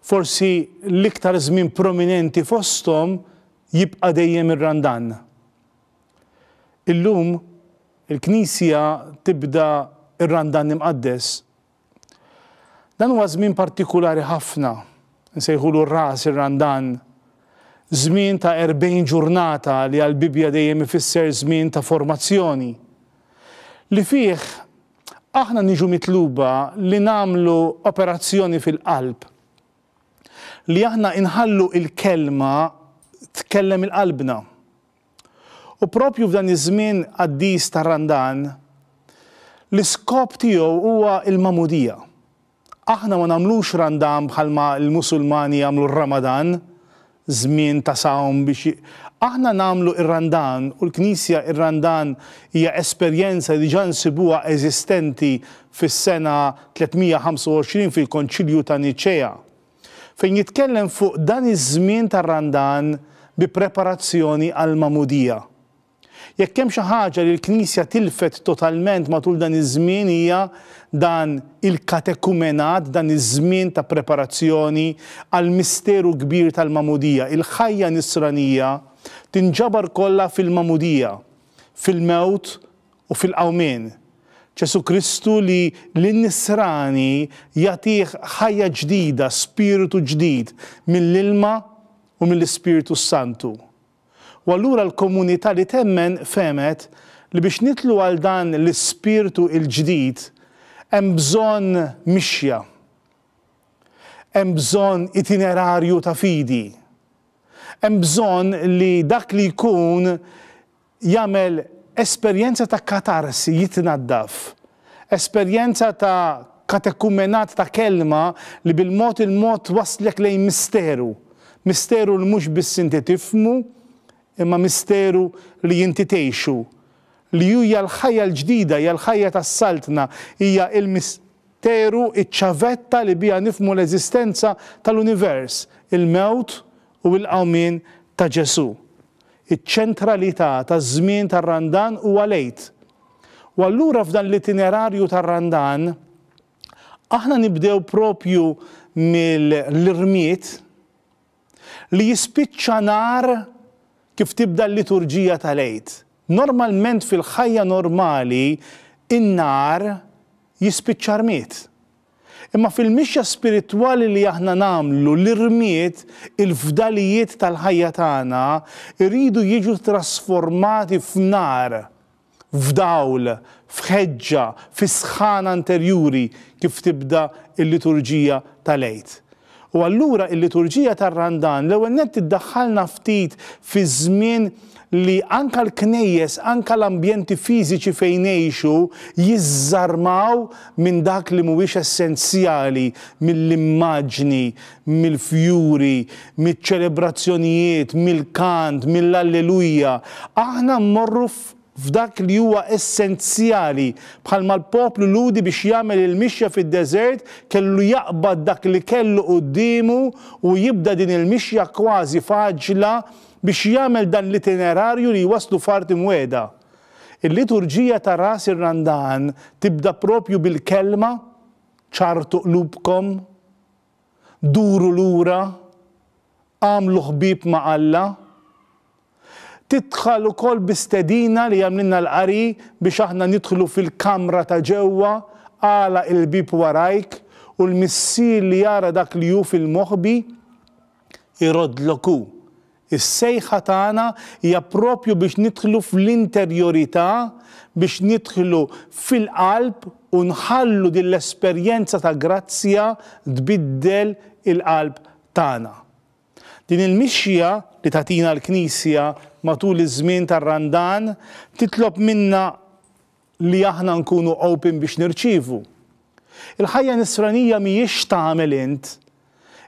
Forsi l-iktar żmien prominenti fosthom jibqa' dejjem ir-Randan. Illum, il-Knisja tibda r-Randan Imqaddes. Dan huwa żmien partikulari ħafna, nsejħulu r-Ras ir-Randan, żmien ta' erbgħin ġurnata li għall-Bibbja dejjem ifisser żmien ta' formazzjoni, li fih aħna niġu mitluba li nagħmlu operazzjoni fil-qalb. Li aħna inħallu il-kelma tkellem il-qalbna. U propju f'dan iż-żmien qaddis tar-Randan, l-iskop tiegħu huwa l-magħmudija. Aħna ma nagħmlux Randan bħalma l-Musulmani jagħmlu r-Ramadan, żmien ta' sawm biex j-, aħna nagħmlu r-Randan u l-Knisja r-Randan hija esperjenza li diġà nsibuha eżistenti fis-sena 325 fil-Konċilju ta' Niċea, fejn jitkellem fuq dan iż-żmien tar-Randan bi preparazzjoni għall-Magħmudija. Jekk hemm xi ħaġa li l-Knisja tilfet totalment matul dan iż-żmien hija dan il-katekumenat, dan iż-żmien ta' preparazzjoni għall-misteru kbir tal-Magħmudija. Il-ħajja Nisranija tinġabar kollha fil-Magħmudija, fil-mewt u fil-qawmien. Ġesù Kristu li lin-Nisrani jagħtih ħajja ġdida, spiritu ġdid mill-ilma u mill-Ispirtu s-Santu. U allura l-komunità li temmen fehmet li biex nidħlu għal dan l-ispirtu l-ġdid hemm bżonn mixja. Hemm bżonn itinerarju ta' fidi. Hemm bżonn li dak li jkun jagħmel esperjenza ta' katarsi, jitnaddaf, Esperjenza ta' katekumenat ta' kelma li bil-mod il-mod twasslek lejn misteru, misteru li mhux biss inti tifhmu, imma misteru li inti tgħixu, li hu hija l-ħajja l-ġdida, hija l-ħajja tas-Saltna, hija l-misteru, iċ-ċavetta li biha nifhmu l-eżistenza tal-univers, il-mewt u l-qawmien ta' Ġesù. Iċ-ċentralità taż-żmien tar-Randan huwa l-Għid. U allura f'dan l-itinerarju tar-Randan aħna nibdew propju mill-irmied li jispiċċa nhar kif tibda l-liturġija tal-Għid. Normalment fil-ħajja normali n-nhar jispiċċa rmied. Imma fil-mixja spiritwali li aħna nagħmlu, l-irmied, il-fdalijiet tal-ħajja tagħna jridu jiġu trasformati f'nar, f'dawl, f'ħeġġa, fi sħana interjuri kif tibda l-liturġija tal-Għid. U allura il-liturġija tar-Randan l-ewwel nett iddaħħalna ftit fi żmien li anke l-knejjes, anke l-ambjenti fiżiċi fejn ngħixu jiżżarmaw minn dak li mhuwiex essenzjali, mill-immaġni, mill-fjuri, miċ-ċelebrazzjonijiet, mill-kant, mill-Alleluja. Aħna mmorru f'. f'dak li huwa essenzjali, bħalma l-poplu Lhudi biex jagħmel il-mixja fid-deżert kellu jaqbad dak li kellu quddiemu u jibda din il-mixja kważi f'għaġġla biex jagħmel dan l-itinerarju li jwasslu f'art imwiegħda. Il-liturġija ta' Ras ir-Randan tibda propju bil-kelma, Ċarrtu qlubkom. Duru lura, agħmlu ħbieb ma' Alla. Tidħal ukoll bi stedina li għamlilna l-qari biex aħna nidħlu fil-kamra ta' ġewwa, agħlaq il-bieb warajk, u l-Missier li jara dak li hu fil-moħbi, iroddlok hu. Is-sejħa tagħna hija proprju biex nidħlu fl-interjorità, biex nidħlu fil-qalb u nħallu din l-esperjenza ta' grazzja tbiddel il-qalb tagħna. Din il-mixja li tagħtina l-Knisja matul iż-żmien tar-Randan titlob minna, li aħna nkunu open biex nirċievu. Il-ħajja Nisranija mhijiex x'tagħmel int.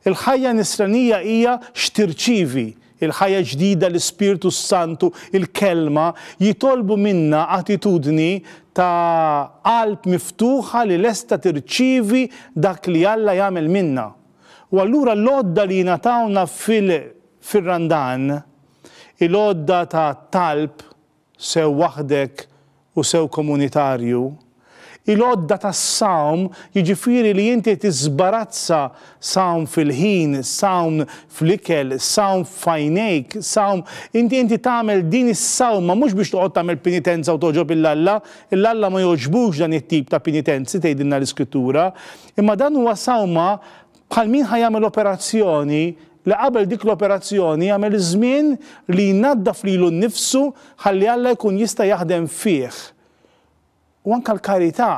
Il-ħajja Nisranija hija x'tirċievi. Il-ħajja ġdida, l-Ispirtu s-Santu, il-Kelma, jitolbu minna attitudni ta' qalb miftuħa li lesta tirċievi dak li Alla jagħmel minna. U allura l-għodda li jingħatawna fil-Randan, il-għodda tat-talb, sew waħdek u sew komunitarju, il-għodda tas-sawm, jiġifieri li inti tiżbarazza sawm fil-ħin, sawm fl-ikel, sawm f'għajnejk, sawm, inti inti tagħmel din is-sawma mhux biex toqgħod tagħmel pinitenza u togħġob 'il Alla, 'il Alla ma jogħġbux dan it-tip ta' pinitenzi tgħidilna l-Iskrittura, imma dan huwa sawma bħal min ħa jagħmel operazzjoni li qabel dik l-operazzjoni jagħmel iż-żmien li jnaddaf lilu nnifsu ħalli Alla jkun jista' jaħdem fih. U anke l-karità,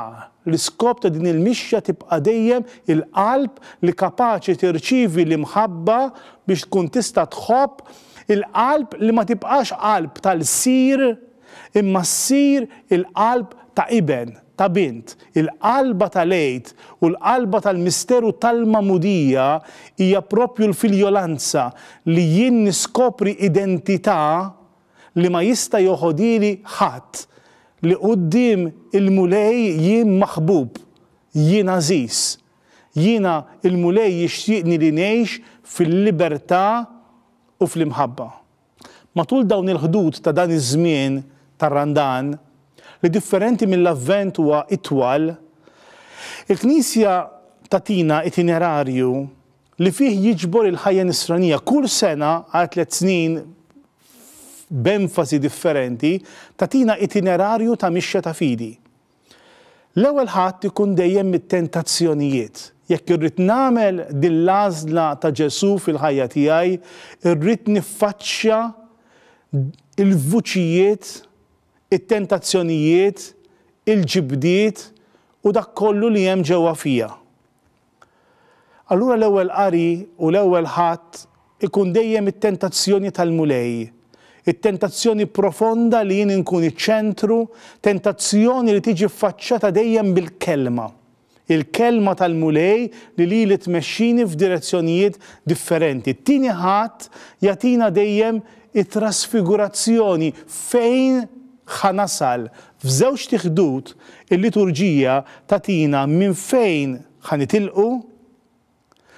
l-iskop ta' din il-mixja tibqa' dejjem il-qalb li kapaċi tirċievi l-imħabba biex tkun tista' tħobb, il-qalb li ma tibqax qalb ta' lsir, imma ssir il-qalb ta' iben, ta' bint. Il-qalba tal-Għid u l-qalba tal-misteru tal-Magħmudija hija proprju l-filjolanza li jien niskopri identità li ma jista' joħodhieli ħadd, li quddiem il-Mulej jien maħbub, jien għażiż. Jiena il-Mulej jixtieqni li ngħix fil-libertà u fl-imħabba. Matul dawn il-ħdud ta' dan iż-żmien tar-Randan, li differenti mill-Avvent huwa itwal, il-Knisja tagħtina itinerarju li fih jiġbor il-ħajja Nisranija kull sena għal tliet snin b'enfasi differenti, tagħtina itinerarju ta' mixja ta' fidi. L-ewwel ħadd ikun dejjem mit-tentazzjonijiet. Jekk irrid nagħmel din l-għażla ta' Ġesù fil-ħajja tiegħi, irrid niffaċċja l-vuċijiet, it-tentazzjonijiet, il-ġibdiet u dak kollu li hemm ġewwa fija. Allura l-Ewwel Qari u l-Ewwel Ħadd ikun dejjem it-tentazzjoni tal-Mulej, it-tentazzjoni profonda li jien inkun iċ-ċentru, tentazzjoni li tiġi ffaċċata dejjem bil-Kelma. Il-Kelma tal-Mulej li lili tmexxini f'direzzjonijiet differenti. It-Tieni Ħadd jagħtina dejjem it-trasfigurazzjoni fejn ħa nasal F'żewġt ħdud il-liturġija tagħtina minn fejn ħa nitilqu,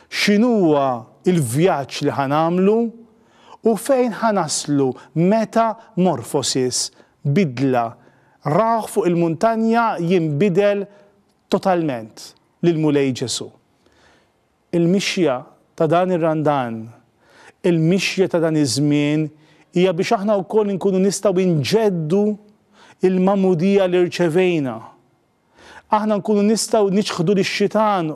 x'inhuwa l-vjaġġ li ħa nagħmlu u fejn ħa naslu meta morphosis, bidla, rawh fuq il-muntanja jinbidel totalment, l-Mulej Ġesù. Il-mixja ta' dan ir-Randan, il-mixja ta' dan iż-żmien hija biex aħna wkoll inkunu nistgħu nġeddu l-magħmudija li rċevejna. Aħna nkunu nistgħu niċħdu lix-xitan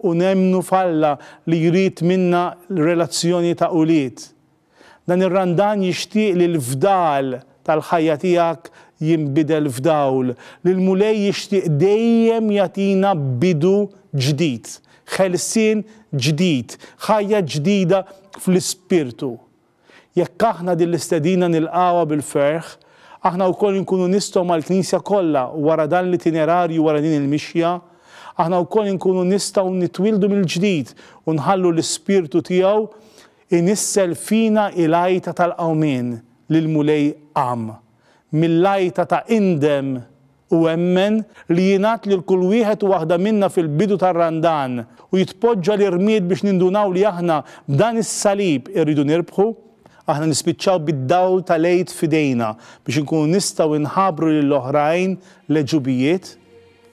u nemmnu f'Alla li jrid minna relazzjoni ta' ulied. Dan ir-Randan jixtieq li l-fdal tal-ħajja tiegħek jinbidel f'dawl, li l-Mulej jixtieq dejjem jagħtina bidu ġdid, ħelsien ġdid, ħajja ġdida fl-ispirtu. Jekk aħna din l-istedina nilqgħuha bil-ferħ, aħna wkoll inkunu nistgħu mal-Knisja kollha wara dan l-itinerarju wara din il-mixja, aħna wkoll inkunu nistgħu nitwieldu mill-ġdid u nħallu l-Ispirtu tiegħu Inissel fina il-għajta tal-qawmien li l-Mulej qam, mill-għajta ta' indem u emmen li jingħad lil kull wieħed u waħda minna fil-bidu tar-Randan u jitpoġġa l-irmied biex nindunaw li aħna b'dan is-Salib irridu nirbħu, aħna nispiċċaw bid-dawl tal-Għid f'idejna biex inkunu nistgħu nħabbru lill-oħrajn l-għeġubijiet